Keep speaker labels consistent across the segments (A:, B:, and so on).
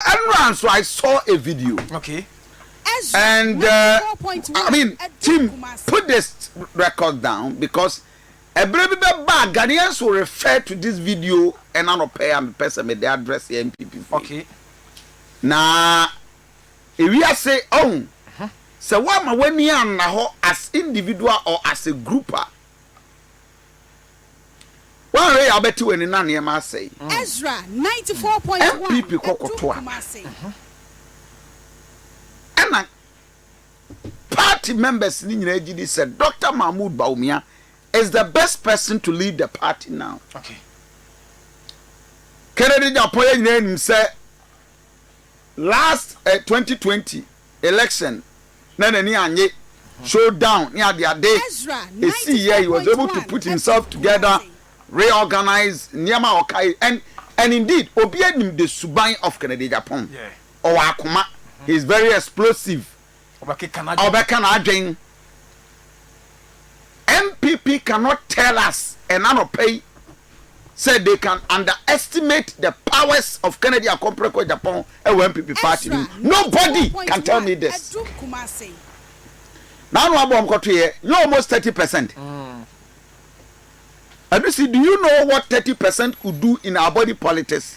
A: Ɛnora nso I saw a video okay.
B: and
A: uh, I mean team put this record down because ɛberɛ bi bɛba a Ghanaians will refer to this video ɛna nɔpɛ a mepɛ sɛ mede address yɛ MPP fo okay.
B: na
A: ewiase ɔhu uh-huh. sɛ woama w'ani anna hɔ as individual or as a group a Woanhwɛ yɛ a wobɛte w'ani na nneɛma asɛe. Ezra ninety
C: four point one ɛtu kumase. NPP kɔ kɔto
A: aba. Ɛna party members no nyinaa gye di sɛ Doctor Mahmood Bawumia is the best person to lead the party now. Kennedy Agyapong yɛn nyinaa nim sɛ last eh twenty twenty election na n'ani annye show down ne ade ade esii yɛ he was able to put himself together reorganize nneɛma a ɔkae and and indeed obi anim de suban of Kennedy Agyapong ɔwɔ akoma he is very explosive Ɔbɛka n'adwen. NPP cannot tell us ɛna anɔpa yi sɛ they can underestimate the powers of Kennedy Akompreko Agyapong ɛwɔ NPP party no mu. Nobody can tell me this. N'ano abɔ wɔn kɔto yɛ nyɛ almost thirty percent. Adusi do you know what thirty percent could do in our body politics?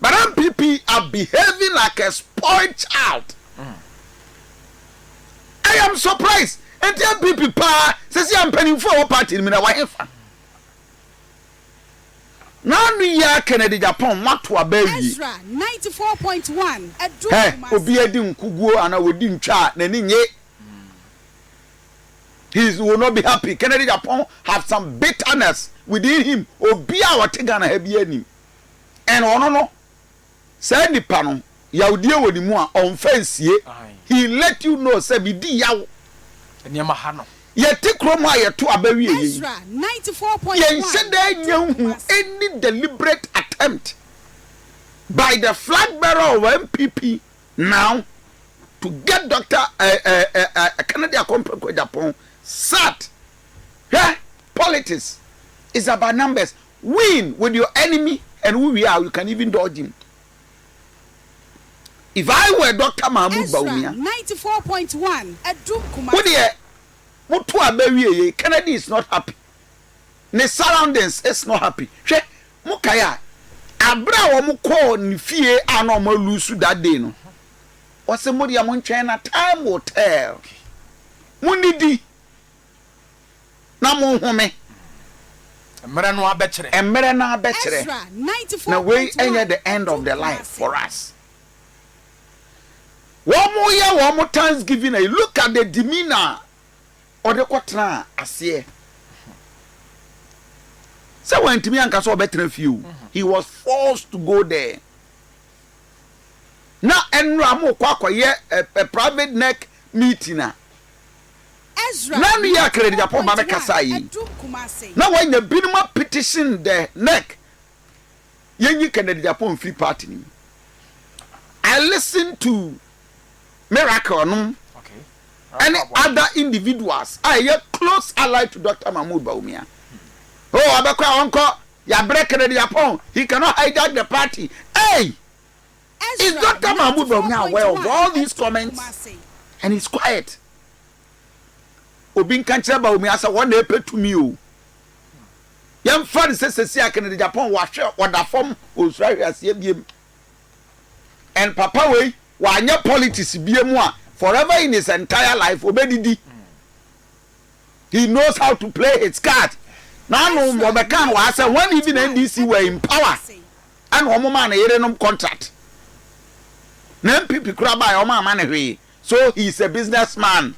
A: But am PP are behaving like a spoiled child I am surprised nti am PP paa sɛsi a mpanimfoɔ a ɛwɔ party no mu na wahefa na ano yi a Kennedy Japan moato aba awie Ezra ninety four point
C: one ɛduru hɛ Kumasi.
A: obiara di nkuguo anaa ɔdi ntwa a n'ani nye he is will not be happy Kennedy Japan have some bitterness within him obiara a ɔte Ghana ha biara nim and ɔno no saa nipa no yawdeɛ wɔ ne mu a ɔnfa nsie he let you know sɛ me di yaw nneɛma
B: ha no. Yɛte kurom a
A: yɛto aba wie yɛ yi,
C: yɛnhyɛ da nya nhu
A: any deliberate attempt by the flag bearer of NPP now to get Doctor Kennedy Akompre Kwejapong sat. Hwɛ, politics is about numbers, Win with your enemy and wo wie a you can even dodge him if I were Doctor Mahmood Bawumia.
C: Wo deɛ mo
A: to a bɛ wie yei Kennedy is not happy ne surroundings is not happy hwɛ mo kae a abere a wɔn kɔɔ ne fie a na wɔn alusu that day no ɔse mo deɛ mo ntwɛn na time will tell mo nidi. na monhome.
B: Mmerɛ no ara bɛkyerɛ. Mmerɛ no ara bɛkyerɛ.
A: Na wei nyɛ the end of the line for us. Wɔn yɛ wɔn thanksgiving ayi, look at the demeanour a ɔde kɔ tenaa aseɛ. Sɛ wantumi anka sɛ ɔbɛtena fie o, he was forced to go there. Na ɛnora mo kɔ akɔyɛ a private neck meeting a.
C: Ná ne yɛ
A: Krediapɔ ma me kasaa yi. Ná wanya binom apetition dɛ nɛk yɛnyi Knediapɔ mfiri party no mu. I listened to Miracle nom ɛne other individuals a ɛyɛ close allied to Doctor Mahmoud Bawumia. Oh, ɔbɛkɔ a ɔnkɔ, yɛabrɛ Knediapɔ, he cannot hijack the party. Ei! Is Doctor Mahmoud Bawumia aware of all these comments and he's quiet? Obi nka nkyerɛ Bawumia sɛ wɔn na ɛpɛ tumi o. Yɛmfa no sɛ sɛsi a Kennedy Agyapong wahwɛ ɔda fam ɔnsuro ahweaseɛ biem. And papa wei wanyɛ politics biem a forever in his entire life ɔbɛdidi. He knows how to play his card. N'ano ɔbɛka no wɔ ha sɛ when even NDC were in power ɛna wɔn maa ne yerenom contract na NPP kura baeɛ wɔn ama ne hwee so he is a business man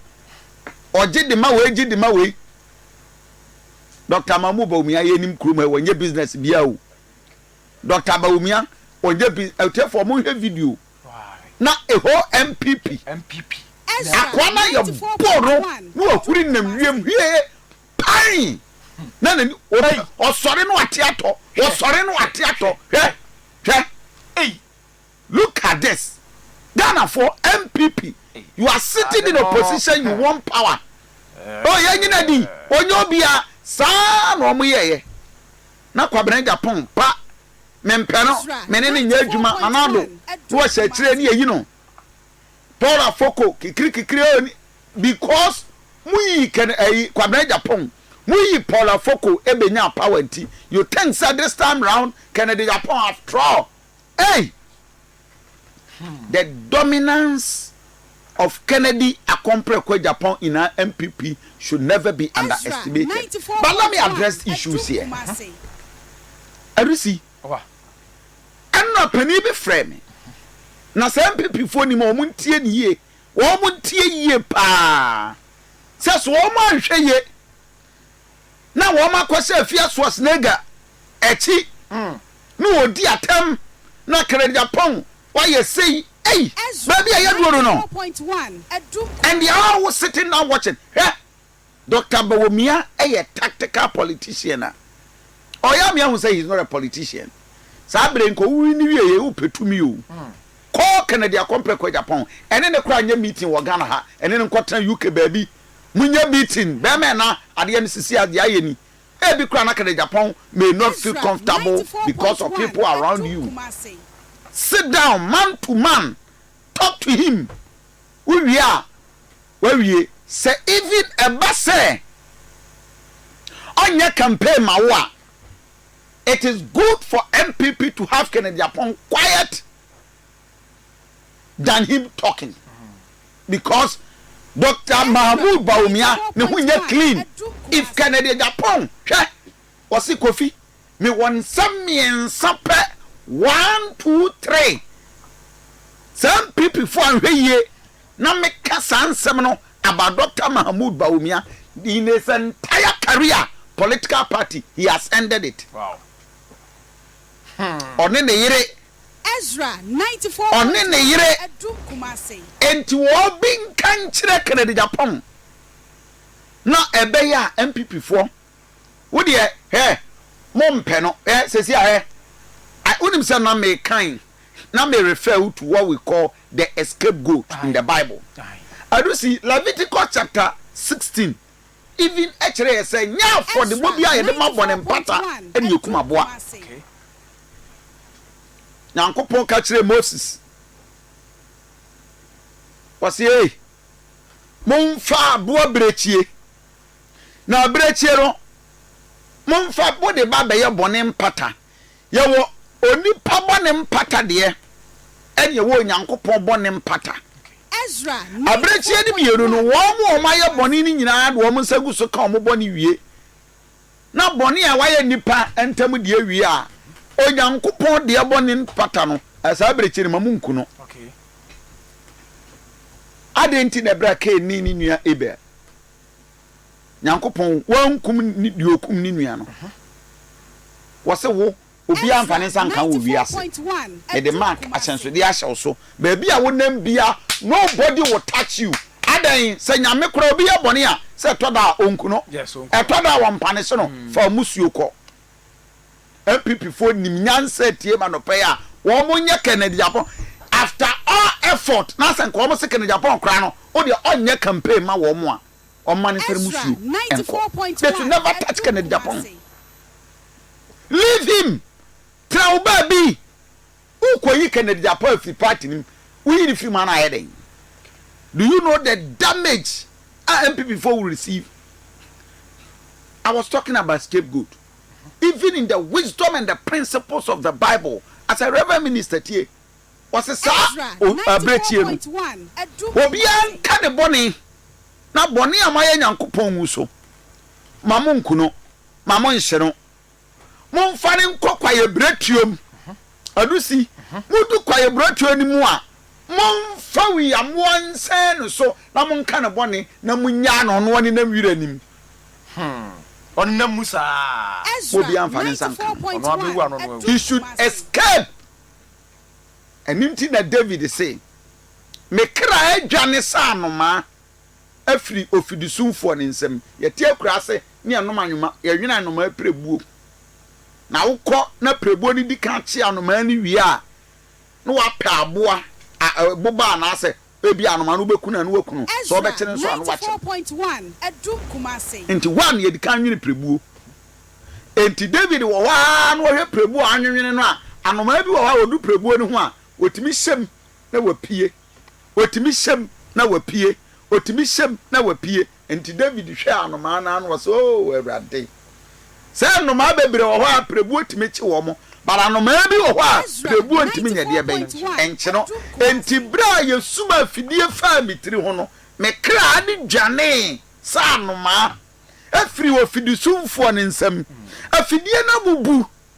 A: ɔgye de ma wei gye de ma wei Dr. Mahmoud Bawumia yɛnim kurom ha wɔnyɛ business biara o Dr. Bawumia ɔnyɛ bi ɛtiɛfoɔ wɔn hwɛ video na ɛhɔ NPP akoa na yɛ bɔɔ no na ɔhuri nam wiem hwie Ain! Na n'ani, ɔte, ɔsɔre na wate atɔ, ɔsɔre na wate atɔ, hwɛ, hwɛ, ei, look at this, Ghanafoɔ, NPP, you are sitting in opposition, you want power, oh yɛn nyina di, ɔnyɛ obiara, saa na wɔn yɛeɛ, na Kwabena Agyapong ba, mempɛ no, me ne no nyɛ adwuma, Nana Addo, na wɔhyɛ akyire ne yɛyi no. Tora foko kikiri kikiri oh ni because mo yi ken ɛyi kwabena agyapong mo yi Paula foko ɛbɛ nyaa power nti you think sɛ this time round ken de yapong aftrall ei the dominance of Kennedy Akompreko Agyapong in our NPP should never be underestimated. But let me address issues here. Erisi. Ɛnna panin bi frɛɛ me. Na saa Mpepifoɔ nim wɔn ntie no yie. Wɔn ntie yie pa ara. Sɛ so wɔn anhwɛ yie na wɔn akɔhyɛ Afia Schwarzenegger akyi na wɔdi atɛm na Krejapong wayɛ sei ei, baabi a yɛaduro no no, and they are all sitting down watching, hwɛ. Doctor Bawumia yɛ tactical politician a ɔyɛ ama yɛahu sɛ he is not a politician. Saa bere yi nka ɔwuwui no wieɛ yi wopɛ tumi o, kɔ Kennedy Akompre Kwegyapong ɛne no kora nyɛ meeting wɔ Ghana ha, ɛne no nkɔtena UK baabi monyɛ meeting, bɛɛma ɛna adeɛ no sisi a deɛ ayɛ ni. Ebi koraa na Kennegyapong may not feel comfortable because of people around you. Sit down man to man talk to him, wowie a wawie. Sɛ even ɛba sɛ ɔnyɛ campaign ma wo a, it is good for NPP to have Kennedy Apong quiet than him talking because Doctor Mahmood Bawumia ne ho nyɛ clean if Kennedy Apong hwɛ ɔse Kofi Mewɔ nsɛm mmiɛnsa pɛ, one, two, three. Saa NPPfoɔ anhwɛ yie na meka saa nsɛm no about Doctor Mahamood Bawumia, in his entire career, political party, he has ended it. Ɔne ne yere. Ezra,
C: ninety four point one, Ɔne ne yere.
A: Adum Kumasi. Enti wɔbi nka nkyerɛ Kennedy Agyapong na ɛbɛyɛ a NPPfoɔ Wo deɛ hɛ mo mpɛ no hɛ sɛsi a hɛ I wonim sɛ na me kan na me refer wo to what we call the escape goat in the bible ɛno si Leviticus chapter sixteen even ɛkyerɛ yɛ sɛ nyɛ afɔdebɔ bi a yɛde ma bɔne mpata ɛne yɛkum aboa Nyankopɔn ka kyerɛ Moses wɔsi ei mo nfa aboa birekyie. na abirekyie no monfa mode ba bɛyɛ bɔne mpata. Yɛwɔ onipa bɔne mpata deɛ ɛne yɛwɔ Onyankopɔn bɔne mpata.
C: Abirekyie no
A: mmienu no, wɔn a wɔn ayɛ bɔne no nyinaa de wɔn nsa gu so ka wɔn bɔne wie, na bɔne a wɔayɛ nnipa ntam deɛ wie a, Onyankopɔn deɛ bɔne mpata no, saa abirekyie no ma monku no. Adɛn nti na ɛberɛ a Kain ne ne nua Abel. Nyankopɔn wankum ne deɛ ɔkum ne nua no. Wɔse wo, obiara mfa ne nsa nka wo wɔ wiase. Mede mark, ahyɛnsodeɛ, ahyɛ wo so. Baabi a wonam biara, nobody will touch you. Adɛn? Sɛ Nyame koraa obi yɛ bɔne a, sɛ ɛtɔ da a, ɔnku no. Ɛtɔ da a, ɔmpa ne se no, fa mmusuo kɔ. NPP foɔ nim nyansa atie ma nɔpɛ yi a wɔn nyɛ Kennedy Agbon after all effort na sɛ nka wɔn se Kennedy Agbon koraa no wodeɛ ɔnyɛ campaign mma wɔn a wɔn mma no nsɛre musuo nkɔ they should never touch Kennedy Agbon leave him tra wo baabi wo kɔ yi Kennedy Agbon afiri party no mu wo yi no firi mu ana ayɛ den do you know the damage a NPP foɔ will receive I was talking about scapegoat. even in the wisdom and the principles of the bible as a reverend minister tie wɔse saa bere tie no obiara nka ne bɔne na bɔne a moayɛ nyankopɔn wu so ma mo nku no ma mo nhye no momfa ne nkɔ kwaeɛ berɛ tuom Adusi, Mudu kwaeburotoɔ no mu a, momfa wiamoɔ nsɛn no so na monka ne bɔne na munnyaa no ɔno ɔnenam wira no mu. Hmm,
B: ɔnenam mu saa. Ezra, Obiara
A: mfa ne nsa nka no. Ɔno abɛwu ano no awu. He should escape. Ɛno nti na David se, Me kra adwane sɛ anomaa. afiri ofidisumfoɔ no nsam. Yɛte akuraase ne yɛnom anwoma, yɛwene anomaa apirebuo. Na wokɔ na apirebuo no di kan kye anomaa no wie a, na wapɛ aboa, boba anaasɛ ebia anomaa no wobɛku no a na waku no, sɛ wobɛkye no nso a na wakye no. Enti
C: hɔ ara na yɛdi kan
A: nwene pirebuo. Enti David wɔ hɔ ara na ɔhwɛ pirebuo a wɔanwenwene no a, anomaa bi wɔ hɔ a ɔdu pirebuo no ho a, ɔtumi hyɛ mu na wapue. Ɔtumi hyɛm na wapue, ɔtumi hyɛm na wapue. Enti David hwɛɛ anomaa no ara na ɔse, Oo Awurade, sɛ nnomaa bebree wɔ hɔ a pirebuo tumi kye wɔn, but anomaa bi wɔ hɔ a pirebuo ntumi nyɛ deɛ ɛbɛn nkye no. Enti berɛ a yɛsum afidie faa me tiri ho no, me kra de dwanee sɛ anomaa, firii ofidisumfoɔ no nsam. Afidie no abubu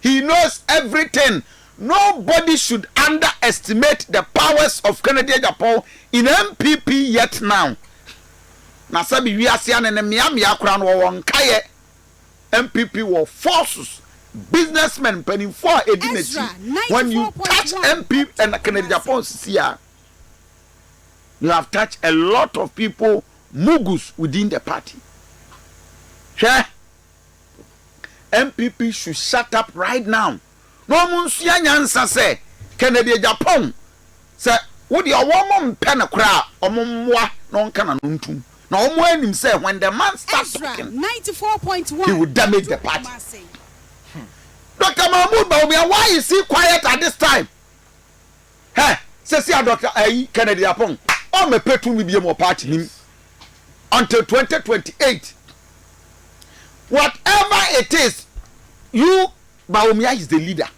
A: He knows everything nobody should under estimate the powers of Kennedy Agyapong in NPP yet now na sɛbi wiase ane ne mea mea koraa no wɔwɔ nkaeɛ NPP wɔ forces businessmen mpanimfoɔ a ɛdi n'akyi when you touch NPP and Kennedy Agyapong sisi a you have touched a lot of people mugus within the party hwɛ NPP should shut up right now na ɔmo nsua nyansa sɛ Kennedy Agyapong sɛ wo deɛ ɔwɔ ɔmo mpɛ no koraa ɔmo mmoa no ɔnka n'ano ntom na ɔmo ara nim sɛ when the man start talking he
C: will damage the
A: party Doctor Mahmood Bawumia why is he quiet at this time? Hɛ! Sɛsi a Dɔkta ayi, Kennedy Apong, ɔn mɛ pɛ tumi biom wɔ party nim until twenty twenty eight. Whatever it is, you Bawumia is the leader.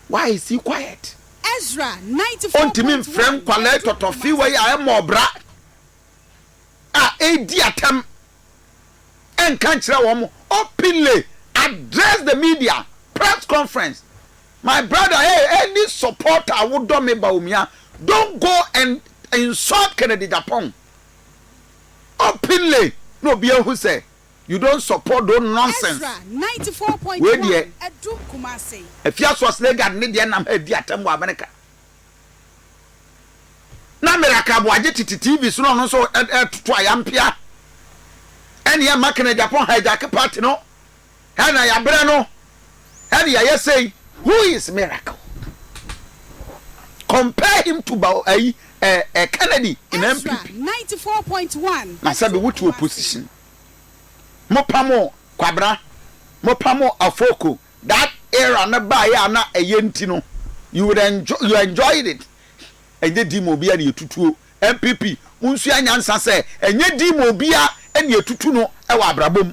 A: Why is he quiet? Ezra
C: ninety four point one. Ontumi nfrɛ nkwalaa
A: tɔtɔfee wei a ɛmmɔ ɔbra a edi atɛm ɛnka nkyerɛ wɔn openly address the media press conference. My brother hey any supporter a wodɔ me ba omi a don't go and insult Kennedy Agyapong openly na obi ahu sɛ you don't support those nonsense
C: wei deɛ Afia Source
A: Legard ne deɛ nam ha di atɛm wɔ America na Miracle Aboagye tete TV so na ɔno nso ɛtoto ayampea ɛne ɛma Kennedy Agyapong hijack party no Hɛn na yɛabrɛ no, hɛn yɛayɛ sei. Who is miracle? Compare him to ba ayi eh eh Kennedy in Ezra NPP. ninety four point
C: one. Na sɛbi wo te
A: opposition. Mo pamo Kwabena, mo pamo Afoko that era no baeɛ a na ɛyɛ nti no you would enjoy you enjoyed it. Ɛnyɛ di ma obiara na yɛtutuo. NPP mo nsua nyansa sɛ ɛnyɛ di ma obiara na yɛtutu no wɔ abrabɔ mu.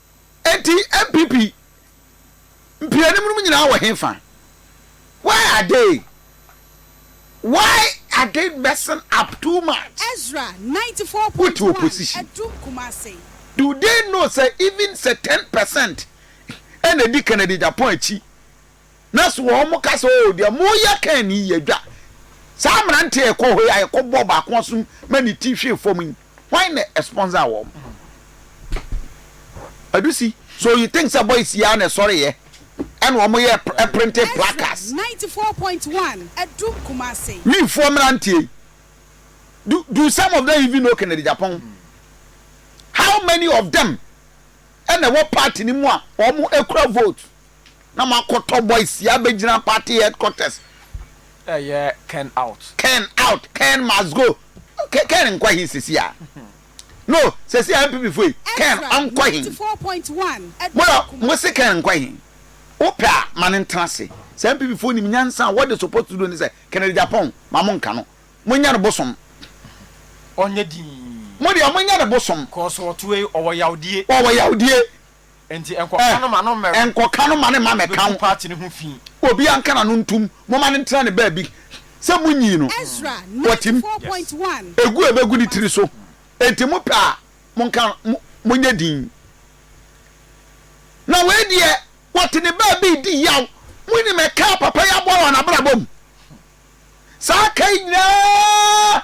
A: Enti NPP mpeanim nom nyinaa wɔ hefa? Why are they why are they messing up too much
C: with opposition? Do they know
A: sɛ even sɛ ten percent ɛna ɛdi Kennedy Agyapong akyi na so wɔn ka sɛ, Oo, deɛ moreyɛ Kain yi yɛ dwa. Saa mmeranteɛ a ɛkɔ hɔ yi a ɛkɔbɔ ɔbaako aso ma ne ti hwee fam yi, hwan na ɛsponsor wɔn? Adusi, so you think sɛ boys yi ara na ɛsɔreeɛ ɛna wɔyɛ printed placards? FM 94.1,
C: Adum Kumasi. Wifoɔ mmeranteɛ
A: yi, do, do some of them even know Kennedy Agyapong? How many of them ɛna ɛwɔ party no mu a wɔkura vote? na makɔtɔ boys si abɛgyina party headquarters. Ɛyɛ
B: Ken out. Ken out, Ken
A: must go. Ken nkɔ he sesi a? No, sesi a NPP fo yi, Ken ɔnkɔ he? Mora,
C: mo se Ken nkɔ
A: he? Wo pɛ a, ma no ntena ase. Sɛ NPP fo nim nyansa a, what they suppose to do ne sɛ, Ken Agyapong, ma mo nka no. Mo nyɛ no bosom. Ɔnyɛ
B: dinn.
A: Mo
B: deɛ, mo nyɛ no bosom.
A: Cos ɔtoe,
B: ɔwɔ
A: yawdie.
B: Ɔwɔ yawdie. Enti nkɔka no ma no mmɛka. Eh, nkɔka no ma no mma mmɛka
A: ho. Obetu party no ho fi.
B: Obiara nka n'ano
A: ntom. Momma no ntena ne baabi. Sɛ munnyi no, watim.
C: Egu a ebegu ne
A: tiri so. Enti mopɛ a, monka no, monyɛ dinn. Na wei deɛ, wɔte ne baabi redi yaw. Munnim ɛka a papa yi aboa wɔ n'abrabɔ mu? Saa ɛka yi nyinaa!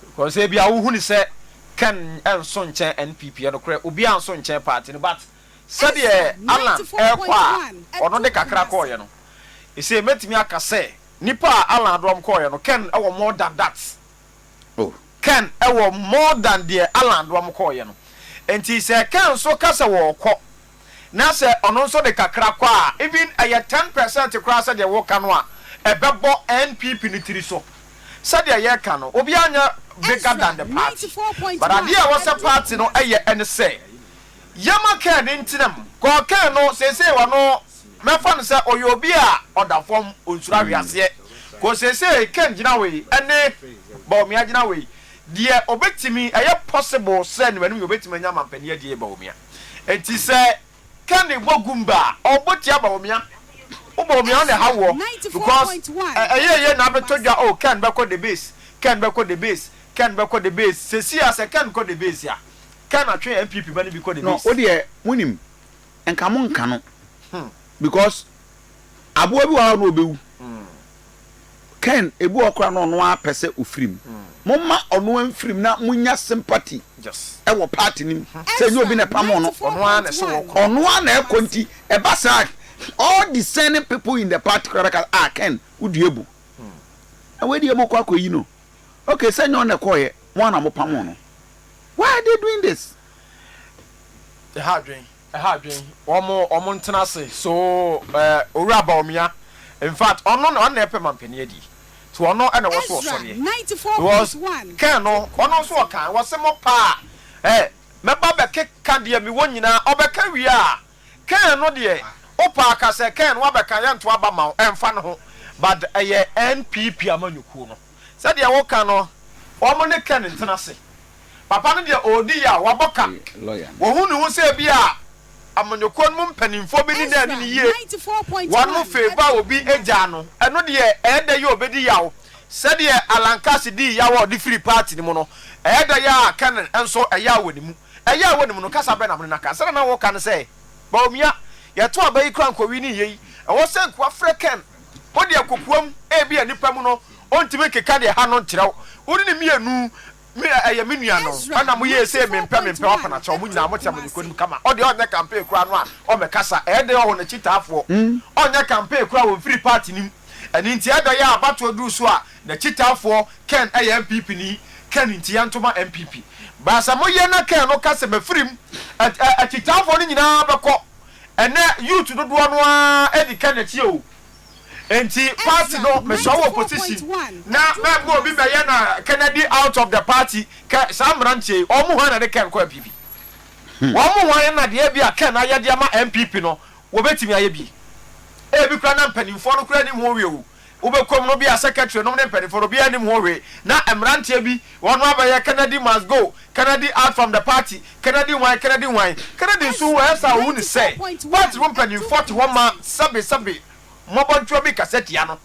B: Because ebia wo hu no sɛ Ken nso nkyɛn NPP ɛnokorɛ obiara nso nkyɛn party no but sɛdeɛ Allan ɛrekɔ a ɔno de kakra kɔɔeɛ no ɛsei mɛtumi aka sɛ nipa a Allan de wɔn kɔɔeɛ no Ken ɛwɔ more than that oh
A: Ken ɛwɔ
B: more than deɛ Allan de wɔn kɔɔeɛ no nti sɛ Ken nso ka sɛ wɔɔkɔ na sɛ ɔno nso de kakra kɔ a, even ɛyɛ ten percent koraa sɛdeɛ woka no a, ɛbɛbɔ NPP no tiri so. Sɛdeɛ yɛka no, obiara nyɛ bigger than the party, but adeɛ a ɛwɔ sɛ party no yɛ ne sɛ, yɛma kɛɛ no ntena mu, kɔɔ kɛɛ no seesei ɔno mɛfa no sɛ ɔyɛ obi a ɔda fam, ɔnsuro ahweaseɛ, kɔɔ seesei kɛɛ gyina hɔ yi ne Bawumia gyina hɔ yi, deɛ ɔbɛtumi, ɛyɛ possible sɛ ne mmanom nyinaa ɔbɛtumi anya amanpanin adie Bawumia. Enti sɛ Kenny bɔ Goomba a, ɔbɔ tia Bawumia. Wo Bawumia wo na ɛha woɔ because ɛyɛ yie na abɛtɔ dwa oh Ken bɛkɔ the base, Ken bɛkɔ the base, Ken bɛkɔ the base. Seesei a sɛ Ken kɔ the base a, Ken atwe NPP ba no bi kɔ the No base. wodeɛ monim
A: nka monka no because aboa bi wɔ hɔ a na ɔbɛwu. Ken ebi wɔ hɔ koraa na ɔno ara pɛ sɛ ofiri mu. Momma ɔno ara mfiri mu na munnya sympathy wɔ
B: party no mu
A: sɛ ɛnyɛ obi na ɛpamoo no.
B: Ɔno ara na ɛkɔ
A: nti ɛba saa a, all discerning people in the party koraa bɛka sɛ, ah Ken wodua abu. Na wei deɛ morekɔ akɔyi no. Okay, sɛ ɛnyɛ ɔno na ɛkɔeɛ, mo ara na mopamoo no. Why are they doing
B: this? ha adwen wɔn wɔn ntena ase so eh owura Bawumia in fact ɔno na ɔno na ɛpɛ mampanin adi to ɔno na ɛwɔ so ɔsɔreɛ because
C: kɛn no ɔno
B: nso ɔkan wɔse mo paa eh mɛba bɛkeka deɛ mewɔ nyinaa ɔbɛka wie a kɛn no deɛ wopaa ka sɛ kɛn no wabɛka yɛnto aba ma wo ɛmfa no ho but ɛyɛ NPP amanyɔkuo no. Sɛdeɛ wo ka no. Wɔn ne Ken ntena ase. Papa no deɛ ɔredi yaw, wabɔ ka. Ɔhu ne
A: ho sɛ ebia
B: amanyɔkuo no mu mpanimfoɔ bɛdi no ani no yie. Wɔn fee bɔ a obi gyaa no, ɛno deɛ ɛyɛ dɛ yɛ a ɔbɛdi yaw. Sɛdeɛ Alan Cass dii yaw a ɔde firii paati no mu no, ɛyɛ dɛ yɛ a Ken nso ɛyaw wɔ ne mu. Ɛyaw wɔ ne mu no, kasa bɛn na mo ne no aka? Sɛdeɛ na wo ka no sɛ, Bawumia, yɛto aba yi koraa nkɔwii ne yei. Ɛwɔ sɛ nkoa frɛ Ken. Wo deɛ kokoam ebia nipa mu no ɔntumi nkeka deɛ ɛha no nkyerɛw wo ne ne mmienu me ɛyɛ me nua no ɛna mo yɛɛ sei mempɛ mempɛ wapena kyɛw mo nyinaa mo kyɛ mo de konim kama ɔdeɛ ɔnyɛ campaign koraa no a ɔmɛkasa ɛɛdɛn ɔho no kyitaafoɔ ɔnyɛ campaign koraa ɔmfiri party no mu ɛno nti ɛɛdɛn a abatoɔ duru so a na kyitaafoɔ Ken ɛyɛ NPP ni Ken nti yɛntoma NPP baasa mo yɛ na Ken no ka sɛ mɛfiri mu ɛ ɛ akyitaafoɔ no nyinaa bɛkɔ Ɛnɛ youth dodoɔ no ara di kɛ nɛkyi o nti party no mesɔ wɔ position na mɛma obi bɛyɛ na kɛnɛdi out of the party kɛ saa mmeranteɛ yi wɔn mu hwan na de kɛn kɔ NPP wɔn mu hwan na deɛ ebia kɛn ayɛ de ama NPP no wɔbɛtumi ayɛ bi ebi koraa na mpaninfoɔ no koraa nim ho hwee o Wobɛkuom no bia secretary nom ne mpaninfoɔ no obiara nnim ho hwee na mmeranteɛ bi wɔn no abɛyɛ Kennedy must go Kennedy out from the party Kennedy hwan Kennedy hwan Kennedy nso wu ɛyɛ saa ohuni sɛ party mu mpaninfoɔ te hɔ ma sɛbe sɛbe mmɔbɔntewa bi kasa tia no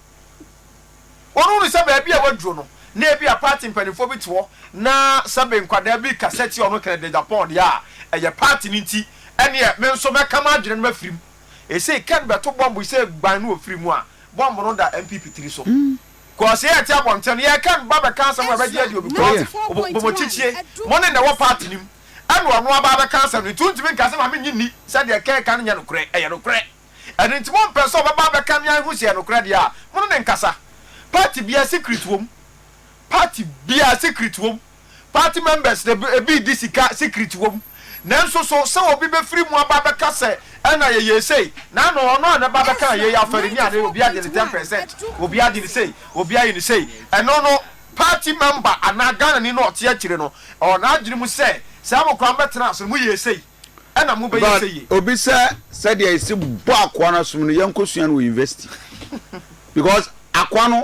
B: wɔn hunu sɛ baabi a waduro no na ebia party mpaninfoɔ bi te hɔ na sɛbe nkwadaa bi kasa tia ɔno Kennedy Agyapong deɛ a ɛyɛ party no nti ɛneɛ me nso mɛka m'adwene no mafirim Esei Ken bɛto bɔmb sɛ gban no ofiri mu a, bɔmb no da MPP tiri so. Cos yɛɛte abɔnten no, yɛɛka no, ba bɛka asɛm a ɛbɛgye adi o because Obomokyikyie mo ne na ɛwɔ party no mu ɛna ɔno aba abɛka asɛm no nti wontumi nka sɛ ma mennye nni sɛ deɛ Ken ka no nyɛ nokorɛ, ɛyɛ nokorɛ. Ɛno nti mompɛ sɛ ɔbɛba abɛka ne anhu sɛ ɛyɛ nokorɛ deɛ a, mo ne no nkasa. Party biara secret wɔ mu. Party biara secret wɔ mu. Party members de ebi di sika secret wom nanso so sɛ obi bɛfiri mu aba abɛka sɛ ɛna yɛyɛɛ sei na ano ɔno a nɛba abɛkaa yei afɛre ni ade obi agye ne ten percent obi agye ne sei obi ayɛ ne sei ɛno no party member anaa Ghanani no ɔte akyire no ɛwɔ n'adwene mu sɛ sɛ mo koraa mo bɛtena ase no mo yɛɛ sei ɛna mo bɛyɛ But sei yɛ. obi sɛ
A: sɛdeɛ yɛsi bɔ akoa no asom no yɛnkɔ sua no wɔ university because akoa no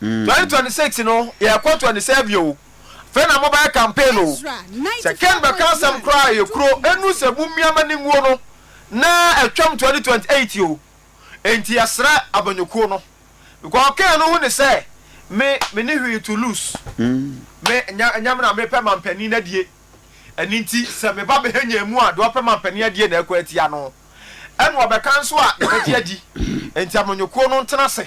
B: Twenty twenty six no yɛ kɔ twenty seven oo afei na mo bɛyɛ campaign oo sɛ ken bɛka asɛm koraa a yɛ kuro enu sɛ mo mia ma ninguo no na atwam twenty twenty eight oo enti yɛ srɛ abanyɔkuo no because ken no ho ni sɛ me me ni hwee to lose me nya nya me na me pɛ manpanin no adie ɛni nti sɛ me ba bɛhɛ nya emu a deɛ ɔpɛ manpanin adie na ɛkɔ atia no ɛna ɔbɛka nso a yɛ bɛgye adi enti amanyɔkuo no ntena se.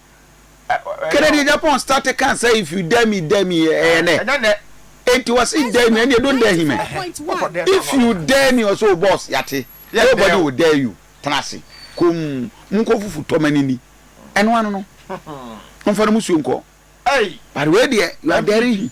A: Kennedy Agyapong starte kan sɛ if you dare me, dare me ɛyɛ nɛ enti wɔse dare me ɛndeɛ don't dare him ɛ if you dare me ɔse o boss yɛate nobody will dare you tena ase komm monkɔ fufu tɔ ma nini ɛno ano no momfa no musuo nkɔ but wei deɛ you are daring him